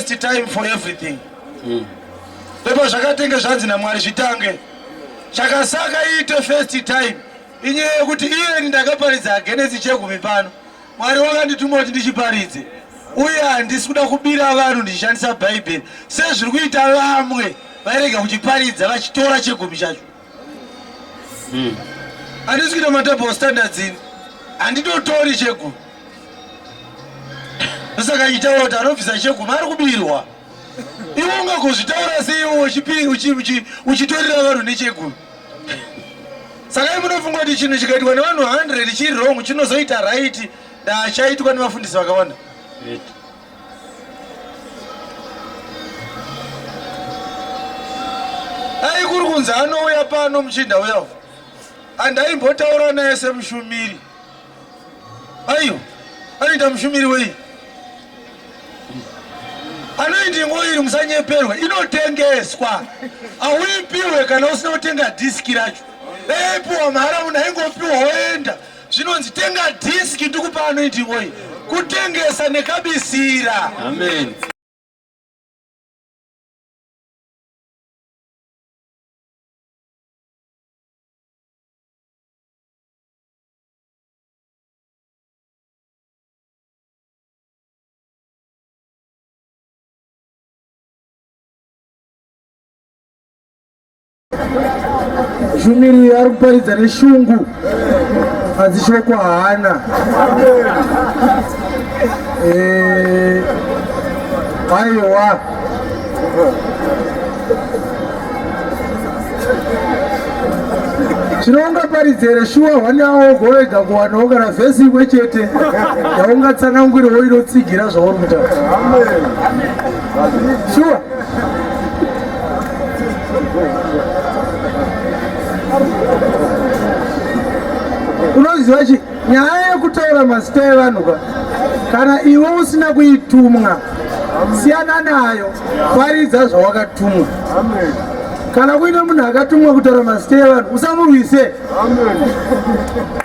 First time for everything. Mm. Ndipo zvakatenge zvanzi naMwari zvitange. Chakasaka iite first time. Inyaya yekuti iye ndakaparidza agenesi chegumi pano. Mwari wakandituma kuti ndichiparidze. Uye handisi kuda kubira vanhu ndichishandisa Bhaibheri sezviri kuita vamwe vairega kuchiparidza vachitora chegumi chacho. Hmm. Andisi kuita madouble standards ini. Handitotori chegumi. Saka itaura kuti anobvisa chegumi ari kubirwa. Iwe ungagozvitaura seiwe uchitorera vanhu nechegumi. Saka munofunga kuti chinhu chikaitwa nevanhu 100 chiri wrong chinozoita right ndachaitwa nevafundisi vakawanda. aikuri kunzi anouya pano muchinda uya andaimbotaura naye semushumiri aiyo anoita mushumiri wei anoiti ngo iri musanyeperwa inotengeswa auipiwe kana usina kutenga dhiski racho daipiwa mhara munhu aingopiwa woenda zvinonzi tenga dhiski ndikupa anoiti oyi kutengesa nekabisira amen Shumiri ari kuparidza neshungu hanzi shoko haana eh, aiwa chinoungaparidzere shuwa hwani awo ugovega kuwanawo kana vhesi imwe chete yaungatsanangwirewo inotsigira zvauri kutaura shuwa unoziva chi nyaya yekutaura mazita evanhu ka kana iwe usina kuitumwa siyana nayo paridza zvawakatumwa kana kuine munhu akatumwa kutaura mazita evanhu usamurwise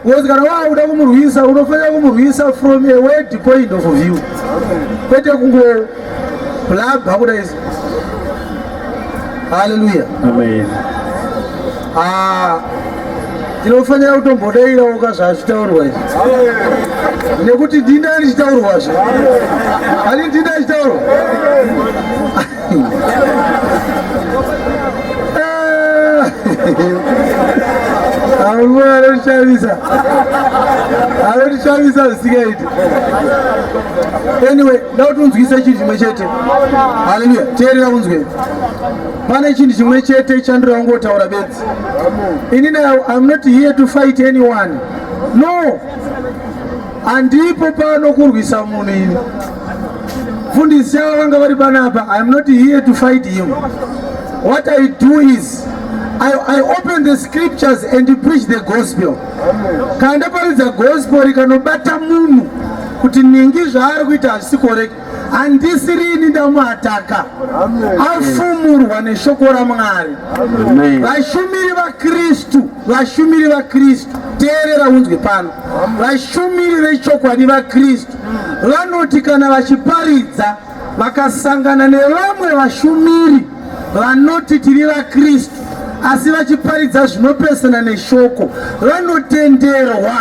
bcause kana waakuda kumurwisa unofanira kumurwisa from a word point of view kwete kungo Blab hakuda izvi. Hallelujah. Amen. Ah, tinofanira kutombodairawo ka zvazvitaurwa izvi nekuti ndini andichitaurwazve ani ndini achitaurwa amwe anotishavisa anotishavisa zvisingaiti anyway Nda kuti unzwise chinhu chimwe chete. Haleluya. Teerera unzwe. Pane chinhu chimwe chete chandiri wangotaura bedzi. Ini now I'm not here to fight anyone. No. Andipo pano kurwisa munhu ini. Fundisi yavo vanga vari panapa. I'm not here to fight him. What I do is I, I open the scriptures and preach the gospel. Kanda paridza gospel rikanobata munhu kuti ningi zvaari kuita hazvisi koreka handisi rini ndamuataka afumurwa neshoko ramwari vashumiri vakristu vashumiri vakristu teerera unzwe pano vashumiri vechokwadi vakristu vanoti kana vachiparidza vakasangana nevamwe vashumiri vanoti tiri vaKristu asi vachiparidza zvinopesana neshoko vanotenderwa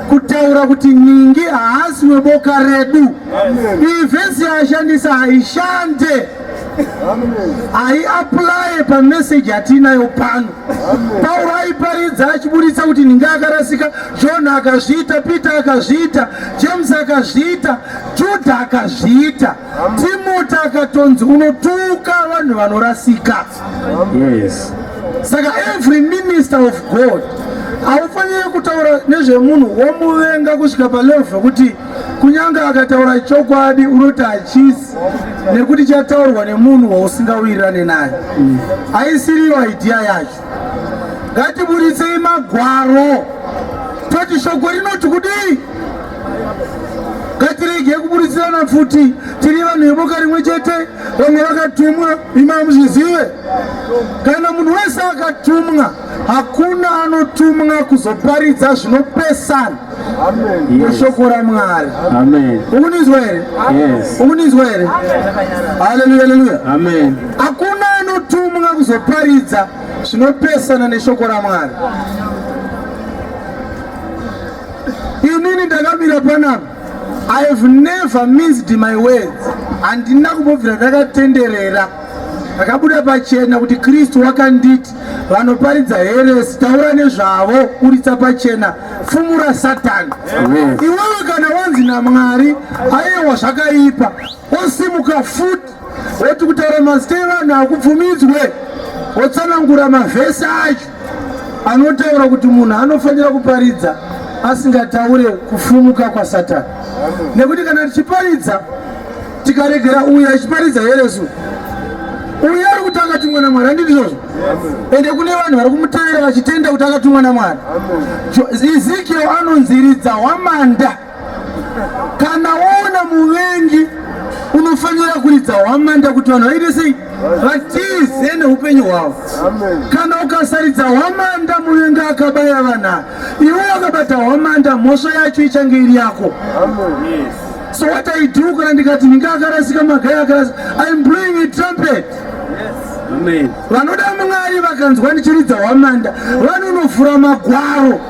kutaura kuti ningi haasi weboka redu. Iyi vhesi yaashandisa haishande, haiaplaye pameseji yatiinayo pano. Pauro aiparidza achiburitsa kuti ningi akarasika, John akazviita, Peter akazviita, James akazviita, Judha akazviita Timoti akatonzi unotuka vanhu vanorasika. Yes. Saka every minister of God haufanire kutaura nezvemunhu womuvenga kusvika palevel zvekuti kunyange akataura chokwadi unoti hachisi nekuti chataurwa nemunhu wausingawirirane naye haisiriyo idea yacho ngatiburitsei magwaro toti shoko rinoti kudii ngatirege kuburitsirana pfuti tiri vanhu veboka rimwe chete vamwe vakatumwa imamuzvizive kana munhu wese akatumwa hakuna anotumwa kuzoparidza zvinopesana neshoko ramwari ukunizwa here ukunizwa here haleluya haleluya hakuna anotumwa kuzoparidza zvinopesana neshoko ramwari inini ndakamira panapa i have never missed my words handina kumbobvira ndakatenderera ndakabuda pachena kuti kristu wakanditi vanoparidza heresi taura nezvavo buritsa pachena fumura satani iwewe kana wanzi namwari ayewa zvakaipa osimuka futi woti kutaura mazita evanhu hakubvumidzwe wotsanangura mavhesi acho anotaura kuti munhu anofanira kuparidza asingataure kufumuka kwasatani nekuti kana tichiparidza tikaregera uyo achiparidza here su uyo ari kuti akatumwa namwari handiti izvozvo ende kune vanhu vari kumutevera vachitenda kuti akatumwa namwari ezekiel anonziridza hwamanda kana woona muvengi unofanira kuridza hwamanda kuti vanhu vaite sei vatize neupenyu hwavo kana ukasaridza hwamanda muvengi akabaya vanhu iwe wakabata hwamanda mhosva yacho ichange iri yako Amen. Yes. So what I do kana ndikati ninge akarasika magai akarasika I'm blowing a trumpet. Amen. Vanoda Mwari vakanzwa ndichiridza hwamanda vanonofura magwaro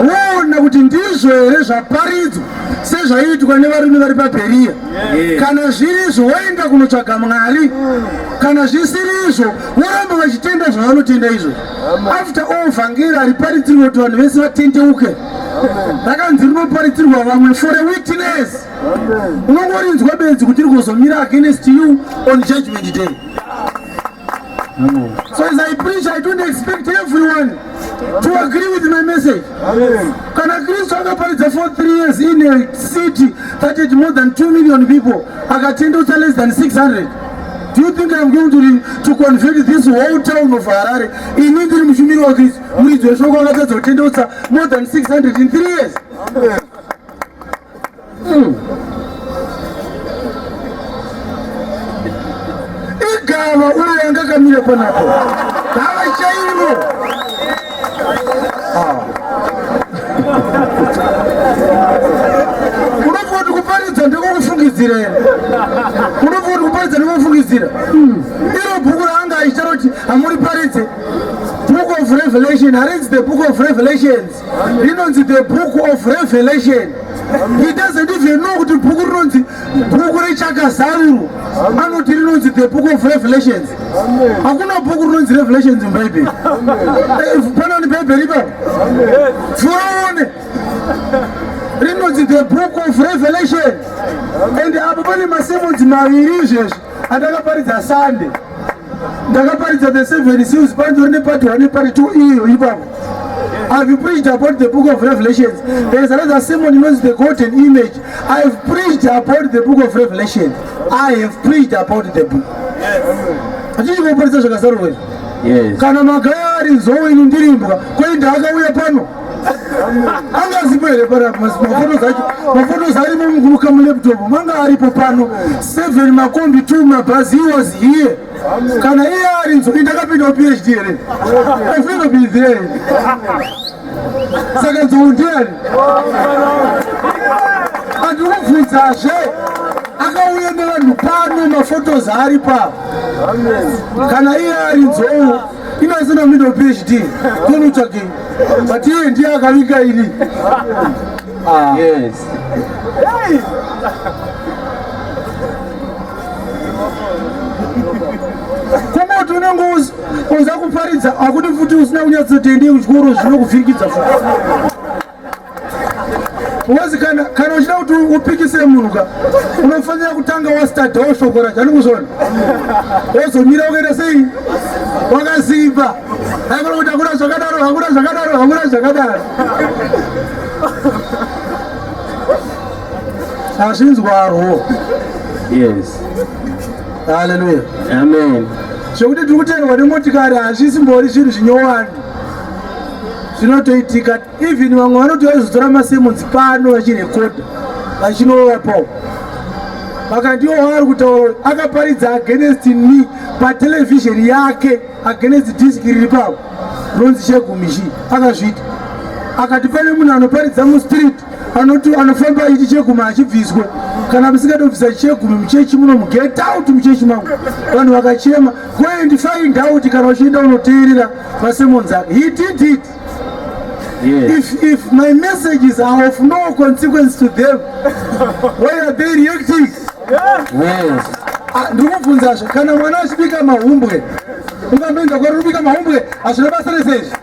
voona kuti ndizvo here zvaparidzwa sezvaiitwa nevarume vari paBheriya. Kana zviri izvo voenda kunotsvaga Mwari, kana zvisiri izvo voramba vachitenda zvavanotenda izvo. After all vhangeri hariparidzirwe kuti vanhu vese vatendeuke. rakanzi rinoparidzirwa vamwe for a witness unongorinzwa bedzi kuti rigozomira against you on judgment day so as i preach i don't expect everyone to agree with my message kana kristu akaparidza for three years in a city that had more than two million people akatendeusa less than 600 do you think i'm going to, to convert this whole town of harare ini ndiri mushumiri wakristu muridzi weshoko akatadza kutendeutsa more than 600 in 3 years hmm. igava uyo yanga kamira panapo gava chairo ah. unofunga kuti kuparidza ndiko kufungidzira here unofunga kuti kuparidza ndiko kufungidzira hmm. iro bhuku raanga aicharo kuti hamuri paridze book of revelation harinzi the book of revelations rinonzi the book of revelation he doesn't even know kuti bhuku rinonzi bhuku rechakazarurwa anoti rinonzi the book of revelations hakuna bhuku rinonzi revelations mubhaibheri eh, pana ni bhaibheri ipapo furaone rinonzi the book of revelation and apo pane masemonzi maviri izvezvi andakaparidza sande ndakaparidza the seven seals panzori nepati one pari two iyo ipapo I've preached about the book of Revelations. There is another Simon who knows the golden image. I've preached about the book of Revelation. I have preached about the book. Yes. Kana magaya ari nzou inu ndirimbwa, kwai ndaakauya pano. anga asipo here parapa mafoto zacho mafoto zarimo mukuruka mulaptop manga aripo pano seven makombi two mabhazi he was here kana iye ari nzo indakapindawo phd here afeno be there saka nzou ndiani andikubvunzazve akauya nevanhu pano mafotos ari pavo kana iye ari nzou inasina middle phd konutsvage but iye ndiye akavinga ini ah. yes. hey. kuti unenge uza kuparidza akuti futi usina kunyatsoteendei kuchikoro zvinokuvhirikidza futi Uwezi kana kana uchida kuti upikise munhu ka unofanira kutanga wastadhawo shoko racho ani kuzvona wozomira ukaita sei wakaziva haikona kuti hakuna zvakadaro hakuna zvakadaro hakuna zvakadaro hazvinzwarwo yes haleluya amen zvekuti tiri kuteerwa nemotikari hazvisimbori zvinhu zvinyowani zvinotoitika even vamwe vanoti vaizotora masemonzi pano vachirekodha vachinovapawo vakandiwo waari kutaura akaparidza against me patelevhizheni yake against diski riri pavo ronzi chegumishi akazviita akati pane munhu anoparidza mustreet anoti anofamba ichi cheguma achibviswa kana musingatobvisa chegumi muchechi muno muget out muchechi mangu vanhu vakachema goendi find out kana uchienda unoteerera Simon Zak, he did it. Yes. If, if my messages are of no consequence to them, why are they reacting? Yes. yes. Ah, ndikubvunzazve kana mwana achibika mahumbwe ungambenza kwari kubika mahumbwe hazvina basa rese izvi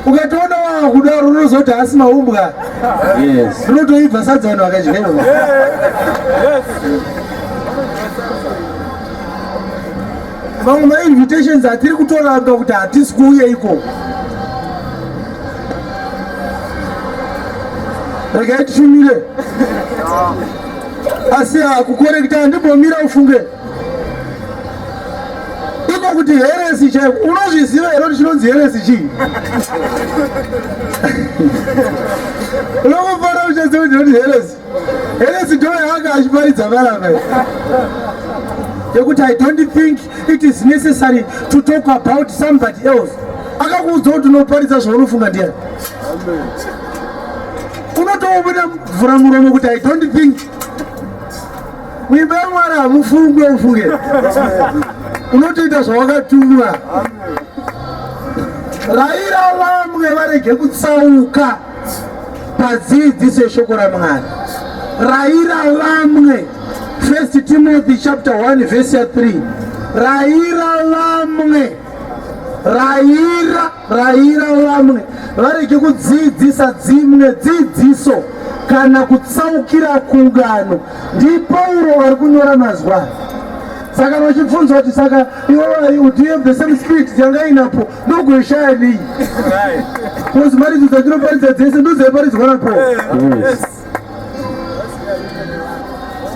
ukatoona waa kudaro unozoti haasi maumbwa rinotoibva sadza vanhu vakadyewa Mamwe ma invitations atiri kutoramba kuti hatisi kuuye iko. Regai tifumire. Asi hakukorekita handimbomira ufunge. Iko kuti heresi chaiko unozviziva here kuti chinonzi heresi chii? Unongofara uchaziva kuti heresi. Elesi ndo yaanga achiparidza varava yekuti i don't think it is necessary to talk about somebody else akakuudza kuti unoparidza zvaunofunga ndiyani unotoomona mvura muromo kuti i don't think muimba yamwari hamufunge ufunge unotoita zvawakatumwa raira vamwe varege kutsauka padzidziso yeshoko ramwari raira vamwe first timothy chapter 1 vhesi ya 3 raira vamwe raira raira vamwe varege kudzidzisa dzimwe dzidziso kana kutsaukira kungano ndipauro ari kunyora mazwa saka vachibvunzwa kuti saka iwe do you have the same spirit yanga inapo ndogoishaya nei kozi mharidzo dzatinoparidza dzese ndodzaiparidzwa napo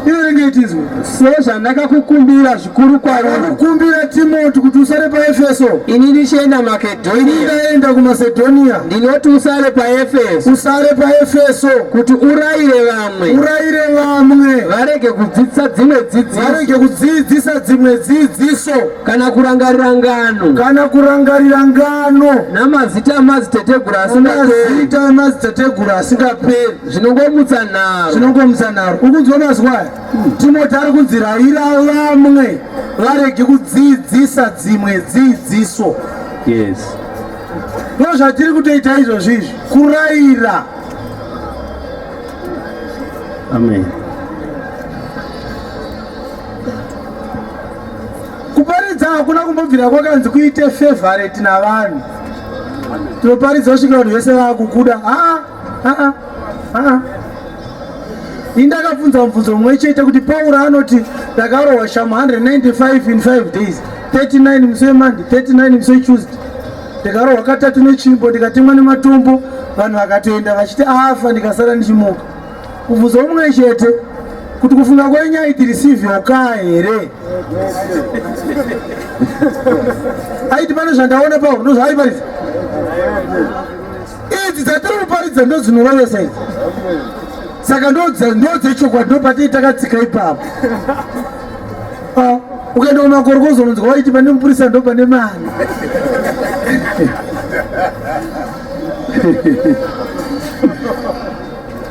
inenge itizwa sezvandakakukumbira zvikuru kwarokukumbira timoti kuti usare paefeso ini ndichienda makedhoniaindaenda kumasedhoniya ndinoti usare paefeso usare paefeso kuti urayire vamwe urayire vamwe varege kudzidzisa dzimwe dzidziso varege kudzidzisa dzimwe dzidziso kana kurangarira ngano kana kurangarira ngano namazita amadziteteguru asingaperi amadziteteguru asingaperi zvinongomutsa nharo zvinongomutsa nharo ukunzwa mazwa aya hmm. timoti ari kunzi raira vamwe varege kudzidzisa dzimwe dzidziso yes ndo zvatiri kutoita izvozvi izvi kuraira amen Kuparidza hakuna kumbobvira kwakanzi kuite favorite navanhu. Tinoparidza kusvika vanhu vese vakukuda. Ah, ah, ah. Ini ndakabvunza mubvunzo mumwe chete kuti Paura anoti ndakarohwa shamu 195 in 5 days 39 musi weMonday 39 musi weTuesday ndikarohwa katatu nechimbo ndikatemwa nematombo vanhu vakatoenda vachiti afa ndikasara ndichimuka kubvunza umwe chete kuti kufunga kwenyu aitiri sivyokaa here aiti pane zvandaona pauri ndozvaaiparidza idzi dzatiri kuparidza ndodzinorovesa idzi saka ndodzechokwadi ndopatii takatsika ipapo ah, ukaenda kumakorokozo unonzwa waiti pane mupurisa ndo pane mari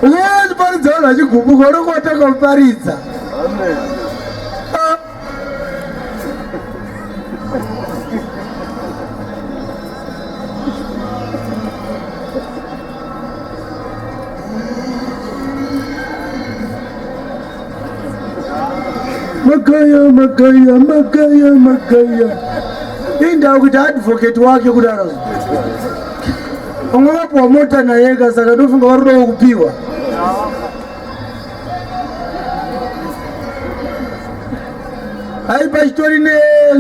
Uye ndiparidza vanhu vachigumbuka unenge watanga kuparidza. Makaya, makaya, makaya, makaya. Indawo kuti advocate wake kudaro. Unga wapuwa mota naye ka saka ndofunga vari kuda kupiwa. Hai pachitori ne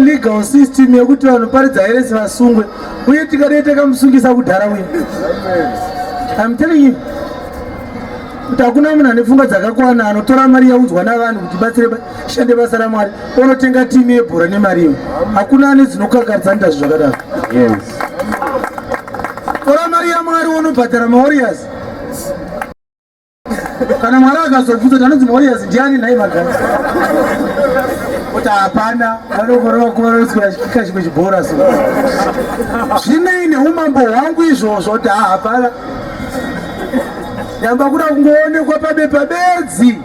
legal system yekuti vanhu paridza here sivasungwe uye tikadai takamusungisa kudhara uye. I'm telling you. kuti hakuna munhu ane pfungwa dzakakwana anotora mari yaudzwa navanhu kuti batsire shande basa ramwari onotenga timu yebhora nemari iyo hakuna ane dzinokangaridza nda zvi zvakadaro tora mari yamwari wonobhadhara maorias kana mwari akazobvunza tanonzi maorias ndiani nhai magari kuti hapana vanokorova kuvanoswera chikika chimwe chibhora so zvinei neumambo hwangu izvozvo kuti hahapana Ndamba kuda kungoonekwa pabepa bedzi.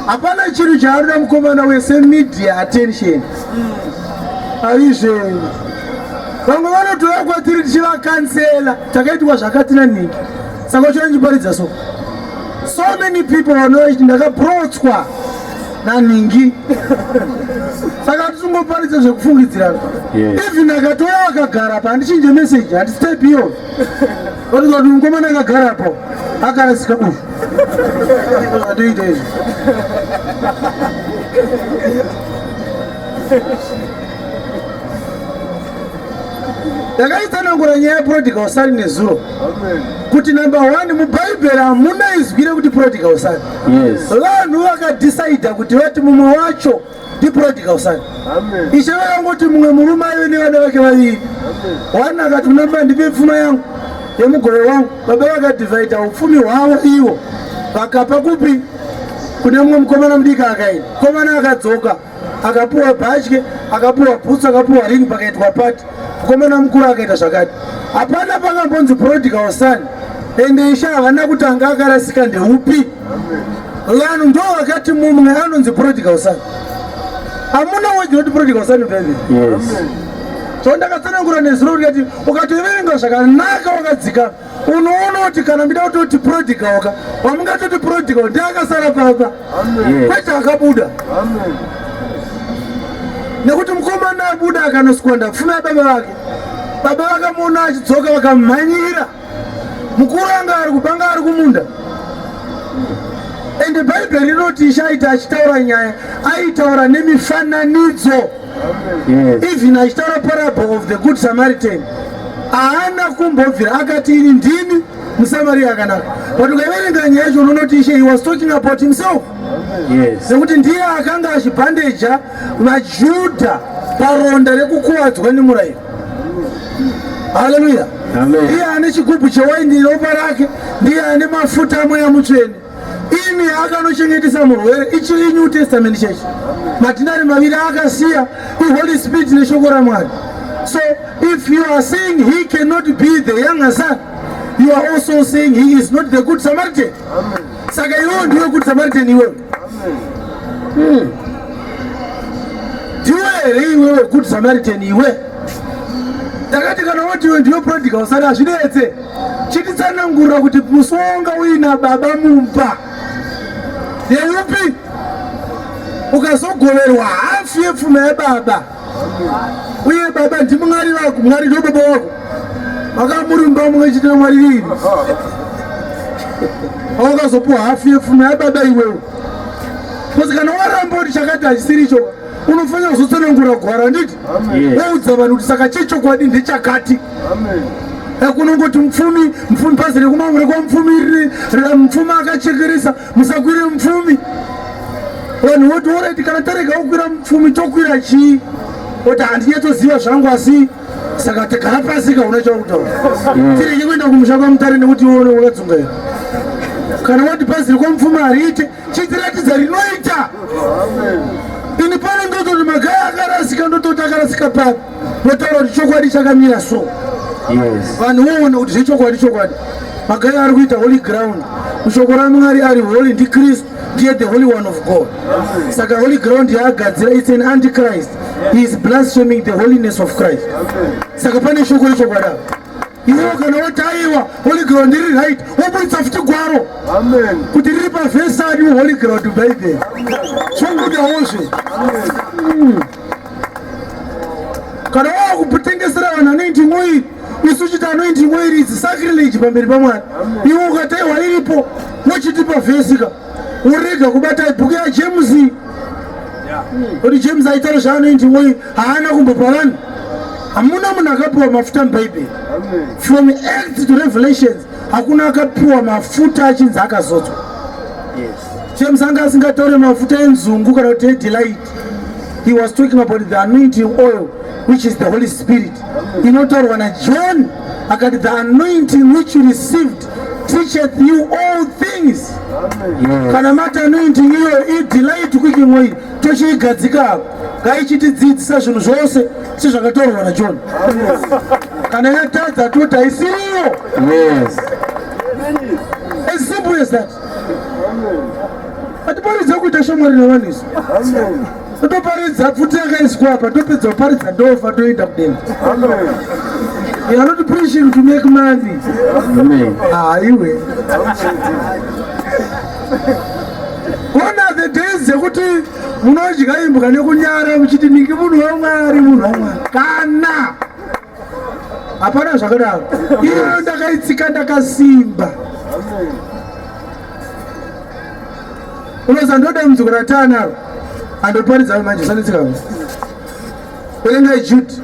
Hapana chiri chaarina mukomana wese media attention. Aizve vamwe vanotoya kwatiri tichivakansela takaitwa zvakati nanhingi saka uchandiparidza so so many people vanoiti ndakaprotswa nanhingi saka tisingoparidza zvekufungidzirana even akatoya akagara pa handichinje message handistep iyoyo Vanoita kuti mukomana akagara apo akarasika uyu atoita izvi ndakaitsanangura nyaya yeprodigal son nezuro kuti number one mubhaibheri hamuna izwi rekuti prodigal son vanhu vakadhisaidha kuti vati mumwe wacho ndiprodigal son ishe vakangoti mumwe murume aive nevana vake vaviri one akati kuna baba ndipe pfuma yangu yemugove wangu baba vakadivhaidha upfumi hwavo ivo vakapa kupi kune mumwe mukomana mudiki akaini mukomana akadzoka akapuwa bhatye akapuwa bhutsu akapuwa ring pakaitwa pati mukomana mukuru akaita zvakati hapana pakambonzi prodigal son ende ishe havana kutanga akarasika ndeupi vanhu ndo vakati mumwe anonzi prodigal son amuna weji woti prodigal son bebe so ndakatsanangura nezuro rikati ukatoverenga zvakanaka wakadzika unoona kuti kana mida kutoti prodigal ka wamungatoti prodigal ndiakasara papa kwete akabuda nekuti mukomana abuda akanoswanda pfuma yababa vake baba vakamuona achidzoka vakamhanyira mukuru anga ari kupanga ari kumunda ende bhaibheri rinoti ichaita achitaura nyaya aitaura nemifananidzo even achitaura parable of the good samaritan haana kumbobvira akati ini ndini musamariya akanaka but ukaverenga nyaya yacho unonoti ishe he was talking about himself nekuti ndiye akanga achibhandeja vajudha paronda rekukuvadzwa nemurayiro Haleluya. Ndiye ane chigubhu chewaini ropa rake, ndiye ane mafuta amweya mutsvene. Ini akanochengetesa murwere ichi iNew Testament church. Matinari maviri akasiya iHoly Spirit neshoko raMwari. So if you are saying he cannot be the younger son, you are also saying he is not the good Samaritan. Amen. Saka iwewe ndiwe good Samaritan iwewe. Hmm. Ndiwe here iwewe good Samaritan iwe? Takati kana woti iwe ndiwe prodigal usati hazvinetse. Chititsanangurira kuti musi wawanga uina baba mumba. Ndeupi? Ukazogoverwa hafu yepfuma yababa. uye baba ndimwari vako mwari ndo baba wako vakamurumba mumwe chete namwari vini awakazopiwa hafu yefuno yababa iwewo bcause kana waramba kuti chakati hachisiri icho unofanira kuzotsanangura gwara nditi woudza vanhu kuti saka chechokwadi ndechakati kunongoti mupfumi mupfumi bhazi rekumangure kwamupfumi riri mupfumi akachekeresa musakwire mupfumi vanhu voti oreti kana tarega kukwira mupfumi tokwira chii oti handinyatsoziva zvangu asi saka tigara pasi kauna chakutaura mm. tirege kuenda kumusha kwamutare nekuti iwone wakadzungaira kana wati bhazi rekwamupfuma hariite chitiratidza rinoita ini pano ndototi magaya akarasika ndototi akarasika papi Ndotaura kuti chokwadi chakamira so. Yes. Vanhu voona kuti zvechokwadi chokwadi. Magai ari kuita holy ground. Shoko raMwari ari holy ndi Kristu ndiye the holy one of God. Saka holy ground yaagadzira it's an antichrist. He is blaspheming the holiness of Christ. Saka pane shoko rechokwadi apa iwo kana wotaiwa holy ground iri right woburitsa futi gwaro kuti riri pavhesani holy ground bible zvongudawo zve kana wava kutengesera vanhu anoiti mwoiri isu uchiti anoiti mwoiri idzi sacrilage pamberi pamwari iwe ukataiwa iripo wochitipa vhesika urega kubata bhuku yajames kuti james aitaura zvaanoiti mwoiri haana kumbopa vanhu hamuna munhu akapiwa mafuta mubhaibheri from acts to revelations hakuna akapiwa mafuta achinzi akazodzwa yes. chemusanga asingataure mafuta enzungu kana kuti edelight He was talking about the anointing oil which is the Holy Spirit. Inotaurwa na John akati the anointing which you received teacheth you all things. Kana mati anointing iyo i delight kuchimwe tochiigadzika apo ngaichitidzidzisa zvinhu zvose sezvakataurwa na John. Kana yatadza toti haisiriyo. Yes. As simple as that. Atiparidze kuita shamwari nevanhu isu. Totoparidza pfuti yakaiswa apa topedza kuparidza ndofa toenda kudenga. You are not preaching to make money. Amen. Ah, iwe. One of the days dzekuti munodya imbwa nekunyara muchiti niki munhu wamwari munhu wamwari kana hapana zvakadaro iyo ndakaitsika ndakasimba unoza ndoda mdziko ratanaro andoparidza manje sanetsika verengai judi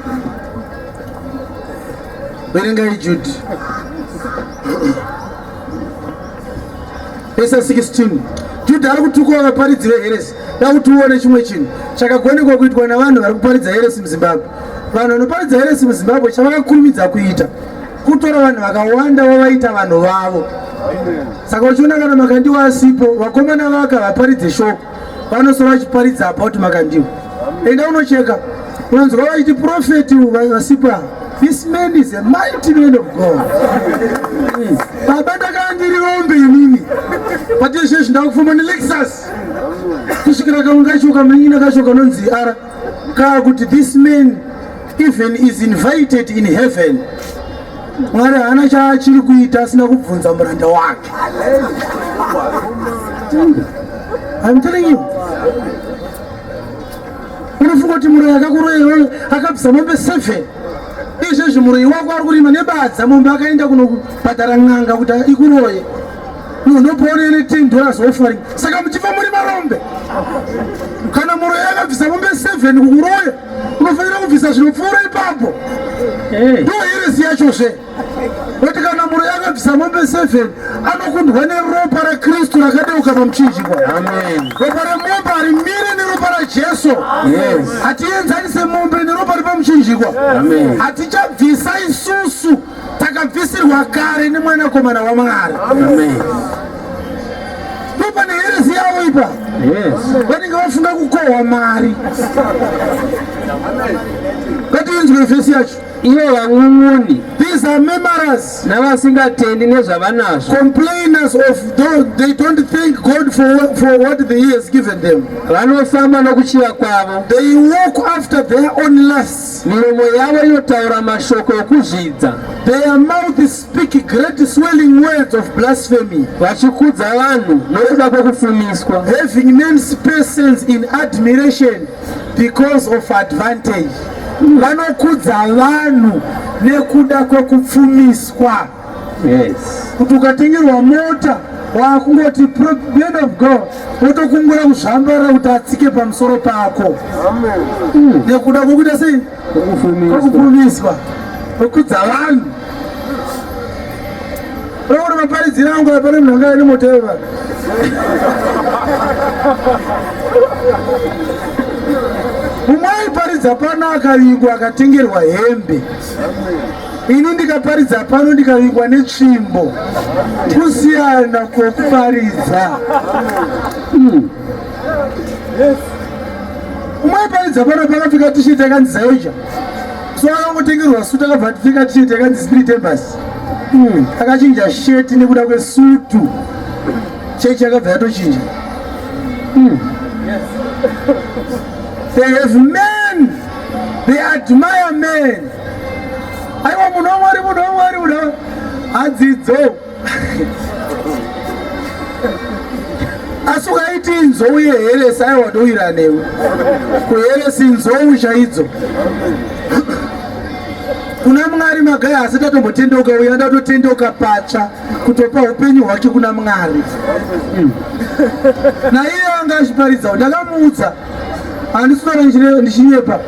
verengai judi Vese 16 Judha ari kutukawo vaparidzi veheresi dakuti uone chimwe chinhu chakagonekwa kuitwa navanhu vari kuparidza heresi muzimbabwe vanhu vanoparidza heresi muzimbabwe chavakakurumidza kuita kutora vanhu vakawanda vavaita vanhu vavo saka uchiona kana makandiwa asipo vakomana vaka vaparidze shoko vanosara vachiparidza about makandiwa enda unocheka unonzwa vaiti profeti vasipa this man is a mighty man of god hmm. baba ndakava ndiri rombe inini patezvezvi ndakufamba nelexus kusvikira kamwe kacho kamanyina kacho kanonzi ara kaa kuti this man even is invited in heaven mwari haana chaachiri kuita asina kubvunza muranda wake I'm telling you unofunga kuti muroyi akakuroya iyoyo akabvisa mombe 7 izvezvi muroyi wako ari kurima nebadza mombe akaenda kunobhadhara n'anga kuti ikuroye No, no born anything dollars offering. Saka muchifa muri varombe. Kana muroyi akabvisa mombe 7 kukuroya, unofanira kubvisa zvinopfuura ipapo. Eh. Ndo heresi yacho zve. Kuti kana muroyi akabvisa mombe 7 anokundwa neropa raKristu rakadeuka pamuchinjikwa. Amen. Ropa remombe harimire neropa raJesu. Yes. Hatienzanise mombe neropa repamuchinjikwa. Amen. Hatichabvisa isusu. takabvisirwa kare nemwanakomana wamwari ndopane heresi yavo ipa vanenge vafunga kukohwa mari ngatiinzwe vhesi yacho ivo vang'ung'uni these are memories navasingatendi nezvavanazvo complainers of those they don't thank god for, what, for what the he has given them vanofamba nokuchiva kwavo they walk after their own lust Miromo yavo inotaura mashoko okuzvidza. Their mouth speak great swelling words of blasphemy. Vachikudza vanhu nokuda kwokufumiswa. Having men's persons in admiration because of advantage. Vanokudza vanhu nekuda kwokupfumiswa. yes. kuti ukatengerwa mota wakungoti man of god wotokungura kuzvambara kuti atsike pamusoro pako hmm. nekuda kwokuita sei kwokupfumiswa kwokudza vanhu rokuti maparidzira angu apane munhu anga ane mota yeva mumwe aiparidza pano akavigwa akatengerwa hembe Ino ndikaparidza pano ndikavigwa netsvimbo kusiyana kwokuparidza hmm. umwe aiparidza pano pakapfeka tisheti yakanzi zaija so akangotengerwa sutu akabva atipfeka tisheti yakanzi spirit embasy hmm. akachinja sheti nekuda kwesutu chechi yakabva yatochinja hmm. they have men They admire men. Aiwa munhu wamwari munhu wamwari munhu hadzidzo asi ukaiti nzou yeheresi aiwa ndoira newe kuheresi nzou chaidzo kuna mwari magai asi ndatombotendeuka uya ndatotendeuka patsva kutopa upenyu hwake kuna mwari hmm. naiye anga achiparidzawo ndakamuudza handiswera ndichinyepa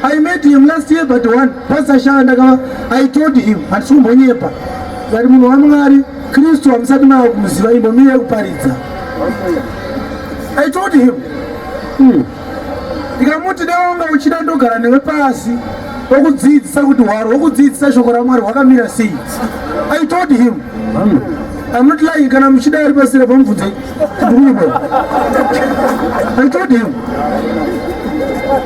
i met him last year but one pastor shaa ndakava i told him handisi kumbonyepa vari munhu wamwari kristu hamusati mava kumuziva imbomiri yekuparidza i told him hmm. ndikamuti hmm. dewanga uchida ndogara newe pasi okudzidzisa kuti hwaro hwokudzidzisa shoko ramwari hwakamira sei i told him hmm. i'm not lying kana muchida ari pasire pamubvunzei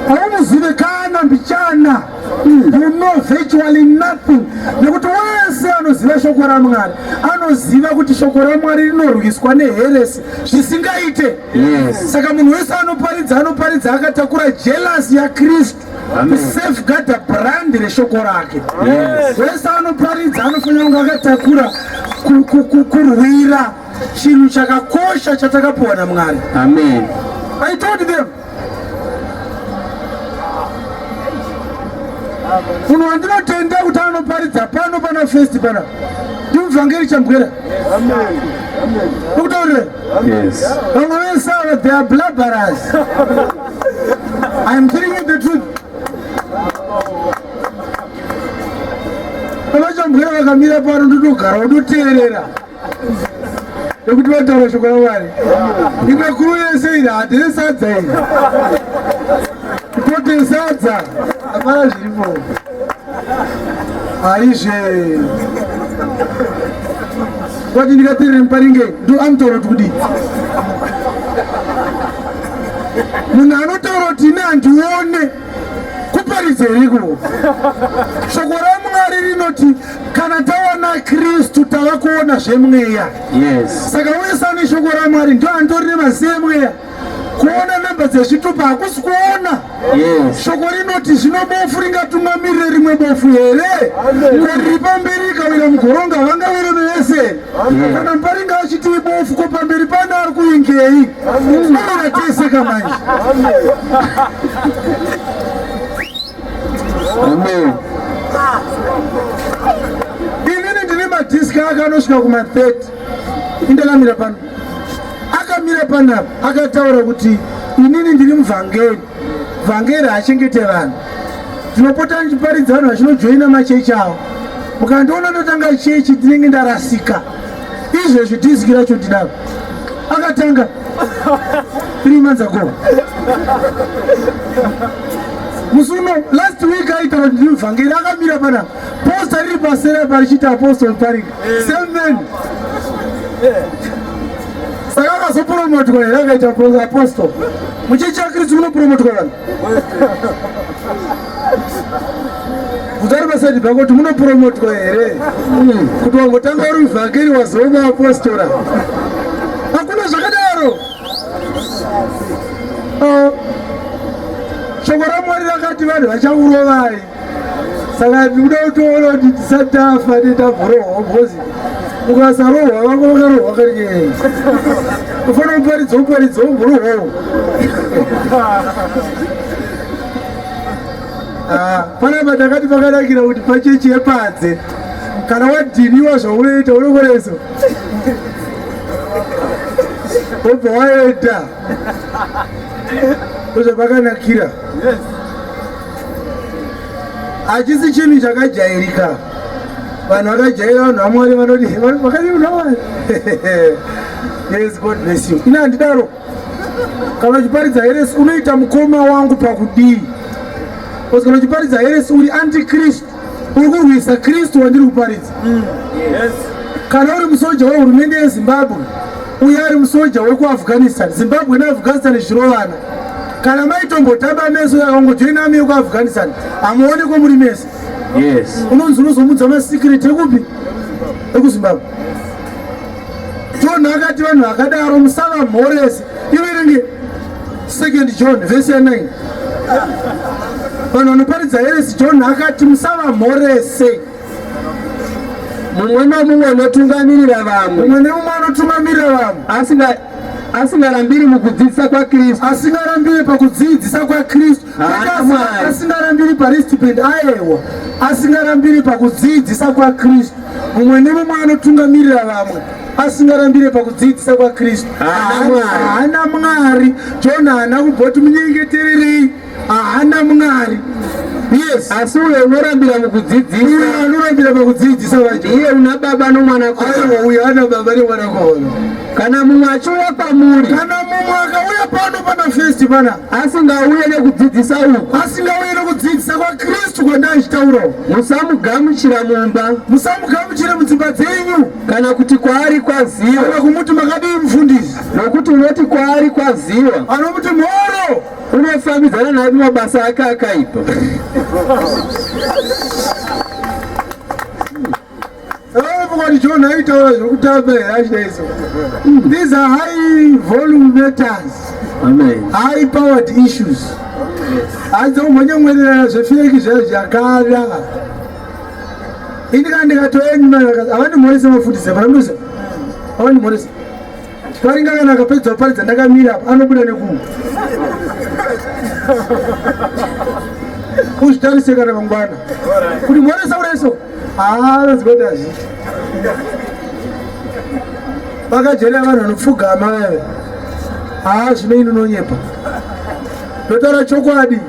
hauzivikana mbichana you know virtually nothing nekuti wese anoziva shoko ramwari anoziva kuti shoko ramwari rinorwiswa neheresi zvisingaite saka munhu wese anoparidza anoparidza akatakura jelasi yakristu kusafeguarda brandi reshoko rake wese anoparidza anofanira kunge akatakura kurwira chinhu chakakosha chatakapuwa namwari amen i told them munhu wandinotenda kuti anoparidza pano pana festi pana ndimuvhangeri chambwera ukutaurire vamwe vese ava they are blabaras iam telling you the truth vamachambwera vakamira pano ndotogara unoteerera nekuti vataura shoko ramwari imwe kuru yese iri hatine sadza iri kuti sadza hapana zviripo haizve kwati ndikatirire muparinge ndo anotaura kuti kudii munhu anotaura kuti ine handione kuparidza iriko shoko ramwari rinoti kana taona kristu tava kuona zvemweya yes. saka wesa neshoko ramwari ndo andori nemazi emweya kuona namba dzezvitupa hakusi kuona yes. shoko rinoti zvino bofu ringatungamirire rimwe bofu here kori pamberi ikawira mugoronga vangawire mevese kana muparinga achitii bofu ko pamberi pane ari kuingei tinoona tese kamanje Amen. Inini ndine madhiski ake anosvika kuma 30 indakamira pano akamira panapa akataura kuti inini ndiri muvhangeri vhangeri haachengete vanhu tinopota ndichiparidza vanhu vachinojoina machechi avo ukandiona ndotanga chechi ndinenge ndarasika izvezvi diski racho ndidaro akatanga three months ago musi uno last week aita kuti ndivhangeri akamira pana posta riri pasera parichiita apostol parik same man saka akazopromotwa here akaita apostol muchechi yakristu munopromotwa vanhu Mutari masaji bako kuti munopromotwa here hmm. kuti wangotanga uri muvhangeri wazoma apostora hakuna zvakadaro ah. shoko ramwari rakati vanhu vachakurovai saka ndikuda kutoona kuti tisati tafa netavurohwa because ukasarohwa vako vakarohwa karikei ufanira kuparidza uparidza umburohwawo ah, panapa takati pakanakira kuti pachechi yepadze kana wadhiniwa zvaunoita unokoreso obva waenda ndozvapakanakira yes. hachisi chinhu chakajairika vanhu vakajaira vanhu vamwari vanoti vakaiunawari yes god bless you ine handidaro kana uchiparidza heresi unoita mukoma wangu pakudii bcause kana uchiparidza heresi uri antikristu uri kurwisa kristu wandiri kuparidza mm. kana uri musoja wehurumende yezimbabwe uye ari musoja wekuafghanistan zimbabwe neafghanistan zvirovana kana maitombotamba meso yakangojoina amiyo kuafghanistan hamuonekwo muri mese unonzi unozomudza masikireti ekupi ekuzimbabwe tonhu akati vanhu vakadaro musava mhorese iverenge second john vhesi ya 9 vanhu vanoparidza heresi john akati musava mhorese mumwe nomumwe anotungamirira vamwe mumwe nomumwe anotungamirira vamwe asinga asingarambiri mukudzidzisa kwakristu asingarambiri pakudzidzisa kwakristu asingarambiri paristipend aewa asingarambiri pakudzidzisa kwakristu mumwe nemumwe anotungamirira vamwe asingarambire pakudziitisa kwaKristu haana Mwari. Jona haana kumboti munyengetererei, haana Mwari. Yes. Asi uyo unorambira mukudzidzisa. Uyo anorambira pakudzidzisa vacho. Iye una baba nomwana kono. Aiwa uyo ana baba nemwana kono. Kana mumwe achiuya pamuri. Kana mumwe akauya pano pana festi pana. Asingauye nekudzidzisa uku. Asingauye nekudzidzisa kwaKristu kwandaichitaura. Musamugamuchira mumba. Musamugamuchira mudzimba dzenyu. kana kuti kwaari kwaziwa kana kumuti makadii mufundisi nokuti unoti kwaari kwaziwa anomuti mhoro unofambidzana naye mumabasa ake akaipa Somebody John I told us who tell me that days. These are high volume matters. Amen. High powered issues. Adzo mwenye mwenye zvefeki zvezvakada. ini kana ndikatoenda avandimhorese mafundisi paramdoza avandimhorese paringa kana akapedza kuparidza ndakamira apa anobuda nekumu uzvitarise kana mangwana kuti mhoresa ureso haanozikoti azviti vakajerera vanhu vanopfugama veve haa zvino inononyepa ndotaura chokwadi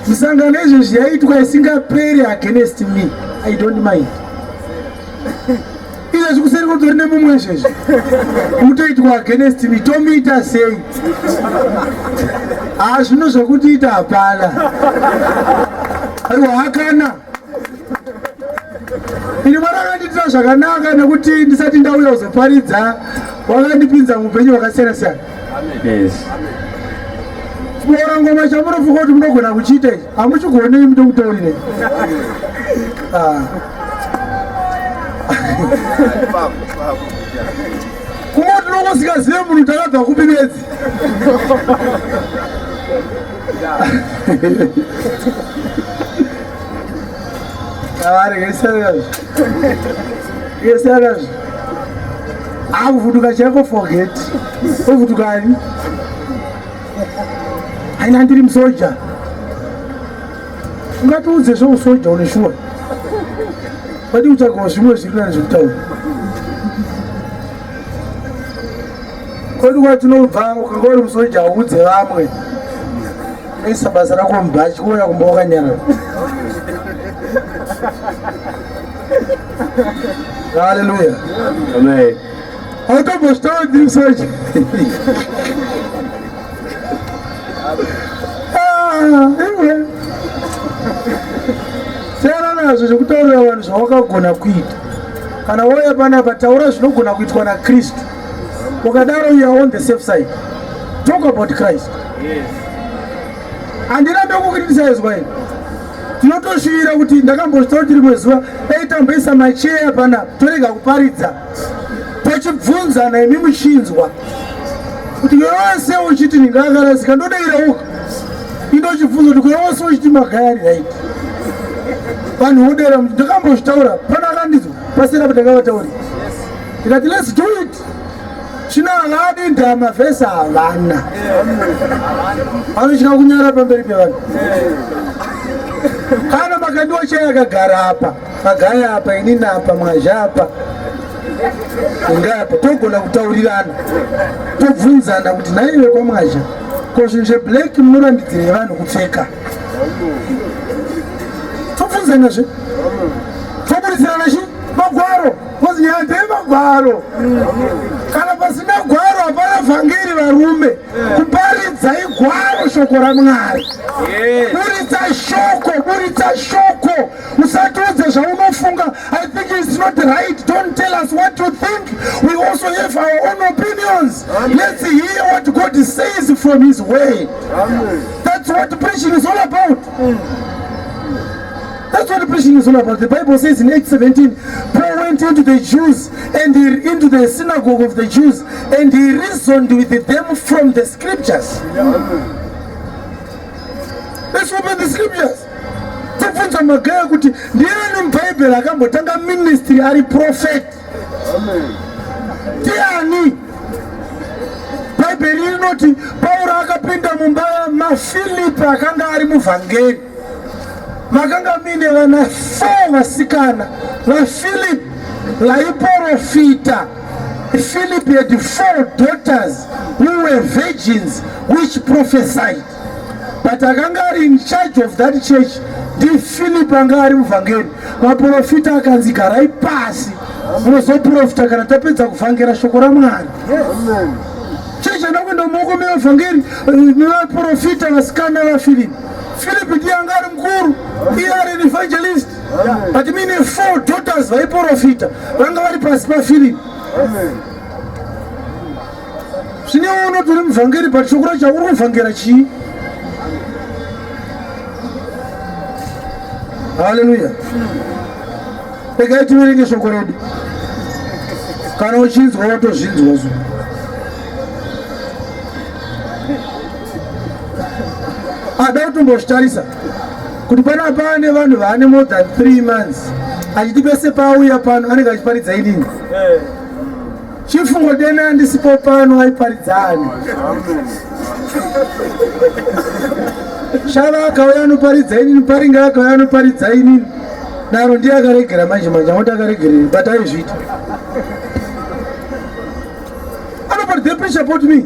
Zvisangano izvezvi yaitwa isingaperi against me i don't mind izvezvi kuseri kutori nemumwe izvezvi mutoitwa against me tomuita sei haa ah, zvino zvekutiita hapana aiwa hakana ini mwari akandiitira zvakanaka nekuti ndisati ndauya kuzoparidza wakandipinza muupenyu hwakasiyana siyana kuora ngoma chamunofunga kuti munogona kuchiita ichi hamuchigonei mutokutaurire ah. kungo tinongosingazive munhu takabva kupi bedzi Avarege serious. Ye serious. Akuvutuka chako forget. Uvutukani? Haina ndiri musoja. Ungatiudze zvousoja une shuwa. Kwadi kutsvagawo zvimwe zviri nani zvekutaura. kwedu kwatinobva ukanga uri musoja haudze vamwe unoisa basa rako mubhachi kuona kumba wakanyarara haleluya amen autobositawo ndiri soja siyana nazvo zvekutaurira vanhu zvawakagona kuita kana wauya panapa taura zvinogona kuitwa nakristu ukadaro you are on the safe side talk about christ handirambe yes. kukritisizwa ini tinotoshuvira kuti ndakambozvitaura kuti rimwe zuva dai tamboisa macheya pana torega kuparidza tachibvunzana imi muchinzwa kuti yose uchiti ndingakarasika ndodaira uka indochibvunza kuti kuyose uchiti magayari right vanhu vodera ndakambozvitaura pana akandizwa pasera pandakavatauri ndikati let's do it chino havadi ndama vese havana vanochina kunyara pamberi pevanhu kana makandiwa chai akagara apa magaya apa inini apa mwazha apa ingapa togona kutaurirana tobvunzana kuti naive kwamwazha ko zvinhu zveblack munorambidzirei vanhu kupfeka tobvunzanazve toburisirana chi magwaro Kozi nyaya ndeyemagwaro kana pasina gwaro hapana vhangeri varume kuparidza igwaro shoko ramwari buritsa shoko buritsa shoko usatiudze zvaunofunga i think its not right don't tell us what you think we also have our own opinions let's hear what god says from his way that's what preaching is all about mm. That's what preaching is all about. The Bible says in 8:17, Paul went into the Jews and he, into the synagogue of the Jews and he reasoned with them from the scriptures. Let's open the scriptures. tibvunza magaya kuti ndiani mubhaibheri akambotanga ministry ari prophet ndiani bhaibheri rinoti pauro akapinda mumba mafilipi akanga ari muvhangeri makanga mine vana four vasikana vaphilip vaiporofita philip had four daughters who were virgins which prophesied but akanga ari in charge of that church ndiphilip anga ari muvhangeri vaprofita akanzi garai pasi munozoprofita kana tapedza kuvhangera shoko ramwari chechi anokuenda muoko mevavhangeri nevaprofita vasikana vaphilip Philip ndiye anga ari mukuru iye ari an evangelist but mine four daughters vaiprofita vanga vari pasi paphilip zvine unotori muvhangeri but shoko racho uri kuvhangera chii haleluya regai tiverenge shoko redu kana uchinzwa watozvinzwa zvo ada kutombozvitarisa kuti pana pane vanhu vaane more than three months achiti pese paauya pano anenge achiparidza inini eh. chifungo dene andisipo pano aiparidzani shava akauya anoparidza inini paringe akauya anoparidza inini daro ndiye akaregera manje manje angoti akaregerei but aizviita anoparidza pressure pot me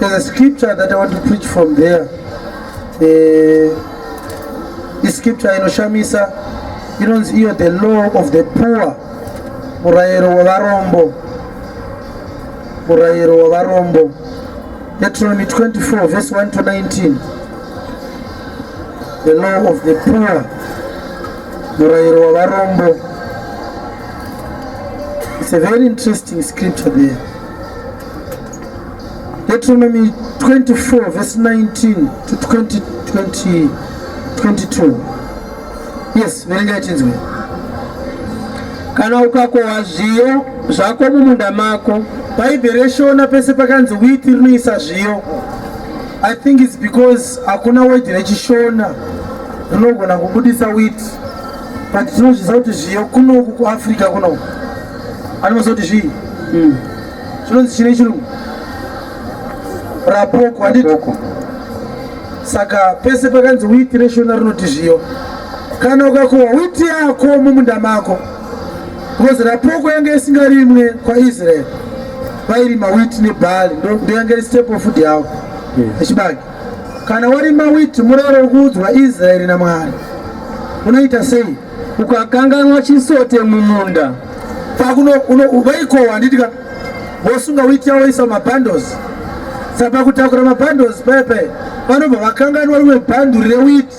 There's a scripture that I want to preach from there. Uh, this scripture inoshamisa inonzi iyo the law of the poor, murayiro wevarombo, murayiro wevarombo. Deuteronomy 24 verse 1 to 19. The law of the poor, murayiro wevarombo. It's a very interesting scripture there. Deuteronomy 24 verse 19 to 20, 20, 22. Yes, verenga ichinzwa. Kana ukakohwa zviyo zvako mumunda mako. Bhaibheri reshona pese pakanzi wheat rinoisa zviyo. I think it's because hakuna word rechishona rinogona kubudisa wheat. but tinozviziva kuti zviyo kunoku kuafrica kunoku anomaziva kuti zvii hmm. chinonzi chine chirungu rapoko handiti saka pese pakanzi witi reshona rinoti zviyo kana ukakohwa witi yako mumunda mako because rapoko yange isingarimwe kwaisraeri vairima witi nebhari ndoyange ri step of food yavo echibage Kana warima witi murayiro wokuudzwa Israeri naMwari unoita sei? Ukakanganwa chisote mumunda vaikowa nditika vosunga witi yavo isa mabundles saka kutakura mabundles pepe vanobva vakanganwa rimwe bhanduri rewiti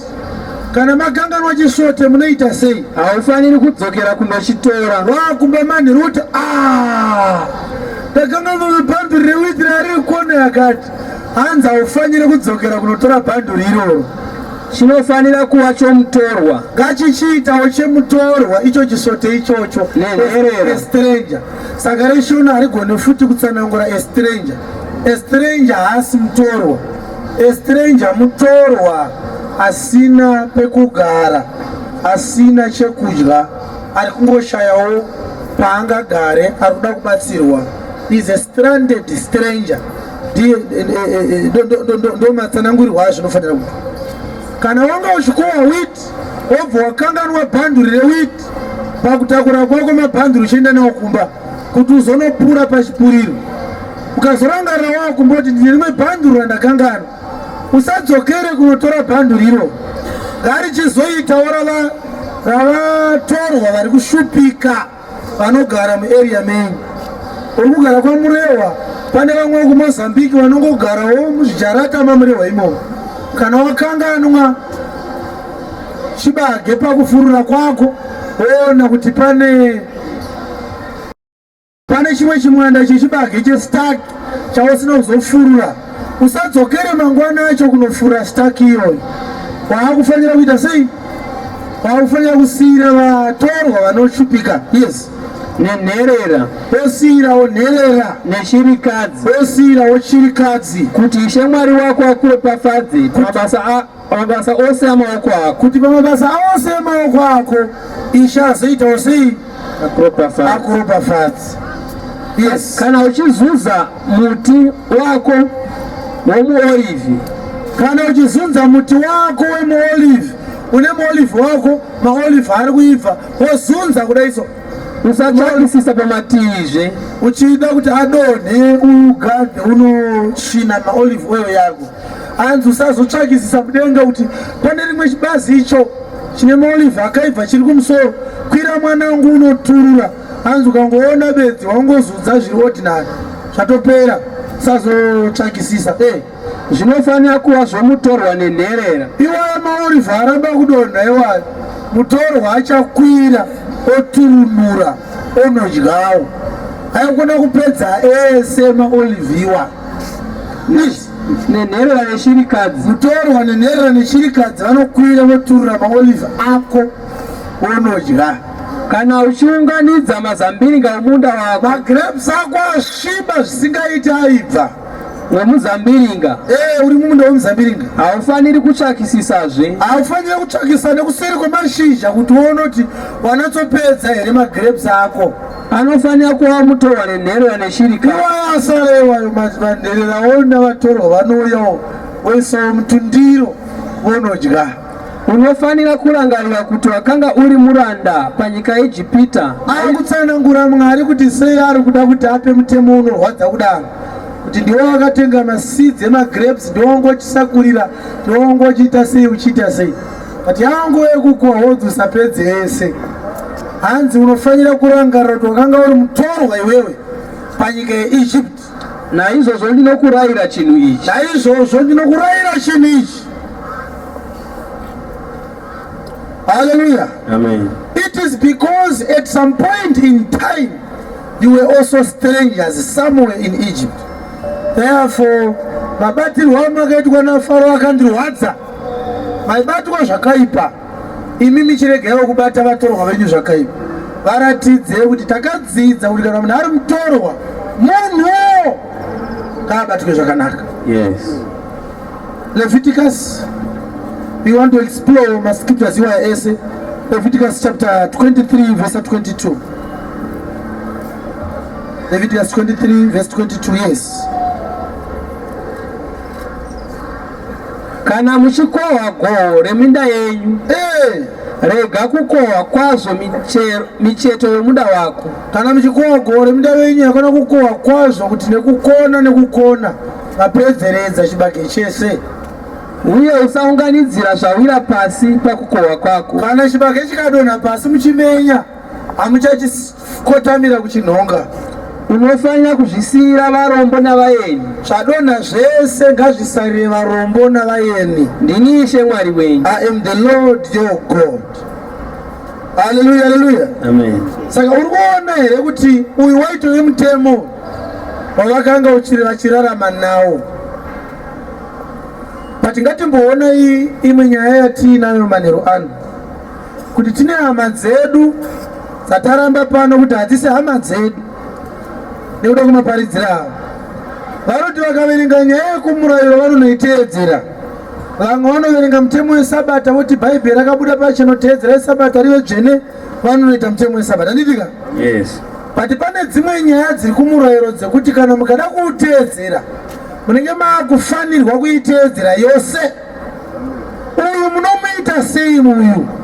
kana makanganwa chisvote munoita sei haufaniri kudzokera kunochitora vakumba manhiruti ah! takanga vamabhanduri rewiti raari kukona yakati Hanzi haufanire kudzokera kunotora bhanduri iroro. Chinofanira kuva chomutorwa. Ngachichiitawo chemutorwa icho chisote ichocho. Nenherera. A stranger. Saka reshona harigoni futi kutsanangura a stranger. A stranger haasi mutorwa. A stranger mutorwa asina pekugara, asina chekudya, ari kungoshayawo paangagare, ari kuda kubatsirwa. is a stranded stranger ndomatsanangurihwa azvo unofanira kuti kana wanga uchikowa wit wobva wakanganwa bhanduri rewit pakutakura kwako mabhanduri uchienda nawo kumba kuti uzonopura pachipuriro ukazorangarira wava kumboti ndine rimwe bhanduru randakangana usadzokere kunotora bhanduru iro ngarichizoitawo ravatorwa vari kushupika vanogara muarea menyu uri kugara kwamurehwa pane vamwe kumozambiki vanongogarawo muzvijarata mamurehwa imomo kana wakanganwa chibage pakufurura kwako woona kuti pane pane chimwe chimwanda chechibage chestaki chausina kuzofurura usadzokere mangwana acho kunofura staki iyoyo waakufanira kuita sei waakufanira kusiyira vatorwa vanoshupika yes nenherera osiyirawo nherera nechirikadzi osiyirawo chirikadzi kuti ishe mwari wako akuropafadze mabasa pamabasa ose amaoko ako kuti pamabasa ose amaoko ako ishe azoitawo sei akuropafadzi yes kana uchizuza muti wako womuolivi kana uchizunza muti wako wemuolivi une muolivi wako maolivi ari kuibva wozunza kudai so usatsvakisisa pamatizve uchida kuti adonhe ugade unosvina maolivi oil yako anzi usazotsvakisisa mudenga kuti pane rimwe chibazi icho chine maolive akaibva chiri kumusoro kwira mwana wangu unoturura anzi ukangoona bedzi wangozudza zviri ordinary zvatopera sazotsvakisisa e zvinofanira kuva zvomutorwa nenherera iwaya maolive aramba kudonha iwayo mutorwa achakwira oturunura onodyawo aikona kupedza ese maolive iwayo nenherera neshirikadzi kutorwa nenherera neshirikadzi vanokwira voturura maolive ako wonodya kana uchiunganidza mazambiringa omunda wako magrapes ako asviba zvisingaiti aibva wemuzambiringa ee uri mumunda wemuzambiringa haufaniri kutsvakisisazve haufaniri kutsvakisa nekuseri kwemashizha kuti wonoti wanatsopedza here magrapes ako anofanira kuva mutorwa nenherera neshirika iwayo asara iwayo manje vanherera ona vatorwa vanouyawo voisawo mutundiro vonodya unofanira kurangarira kuti wakanga uri muranda panyika yeijipita ari kutsanangura mwari kuti sei ari kuda kuti ape mutemo unorwadza kudaro kuti ndiwo wakatenga masidzi emagrapes ndiwo wangochisakurira ndiwo wangochiita sei uchiita sei but yangu yekukohodza usapedze yese hanzi unofanira kurangarira kuti wakanga uri mutorwa iwewe panyika yeegypt naizvozvo ndinokurayira chinhu ichi naizvozvo ndinokurayira chinhu ichi haleluya amen it is because at some point in time you were also strangers somewhere in egypt therefore mabatirwo amakaitwa nafaro akandirwadza maibatwa zvakaipa imi michiregaiwo kubata vatorwa venyu zvakaipa varatidze kuti takadzidza kuti kana munhu ari mutorwa munhu ngaabatwe zvakanaka yes leviticus we want to explore mascriptures iwaya ese leviticus chapter 23 verse 22 leviticus 23 verse 22 yes Kana muchikohwa goho reminda yenyu, eh. rega kukohwa kwazvo micheto yomunda wako. Kana muchikohwa goho reminda yenyu, hakana kukohwa kwazvo kuti nekukona nekukona mapedzeredza chibage chese uye usaunganidzira zvawira pasi pakukohwa kwako. Kana chibage chikadonha pasi muchimenya, hamuchachisi kotamira kuchinhonga unofanira kuzvisiyira varombo navaeni zvadonha zvese ngazvisarire varombo navaeni ndini ishe mwari wenyu i am the lord your god haleluya haleluya amen saka uri kuona here kuti uyu waitove mutemo wavakanga uchiri vachirarama nawo but ngatimboona imwe nyaya yatiinayo manheru ano kuti tine hama dzedu dzataramba pano kuti hadzisi hama dzedu nekuda kumaparidzira avo vanoti vakaverenga nyaya yekumurayiro vanonoiteedzera vamwe vanoverenga mutemo wesabata voti bhaibheri rakabuda pachino teedzera isabata rive dzvene vanonoita mutemo wesabata nditika yes but pane dzimwe nyaya dziri kumurayiro dzekuti kana mukada kuuteedzera munenge maakufanirwa kuiteedzera yose Uyu munomuita sei uyu?